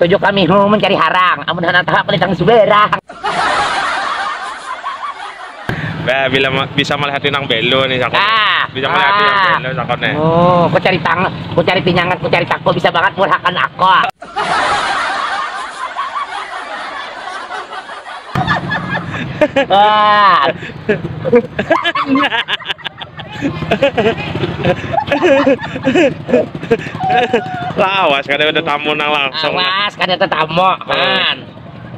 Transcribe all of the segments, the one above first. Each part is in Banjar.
Tuju kami huh mencari harang, amun handak tahu aku lintang subarang. Bah, bila bisa malihati nang belo nih sakon. Ah, bisa malihati nang belo sakon nih. Oh, ku cari tang, ku cari pinyangat, ku cari tako bisa bangat murhakan ako. Lawas kada ada tamu nang langsung. Lawas kada ada tamu. Man.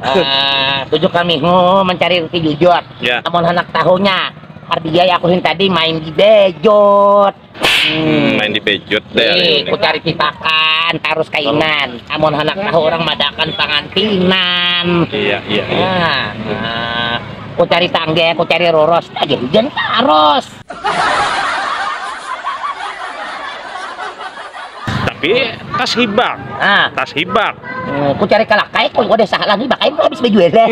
Uh, tujuh kami oh, mencari roti jujur. Yeah. Amun hendak tahunya, hardiai aku yang tadi main di bejot. Hmm, main di pejut deh hari ini. Ku cari pipakan, tarus kainan. Amun anak tahu orang madakan pangantinan. Iya, iya, iya. Nah, nah. Ku cari tangge, ku cari roros. Lagi hujan taros. Tapi tas hibak. Ah. Tas hibak. Hmm, ku cari kalakai, ku udah salah lagi, bakal habis bejualan.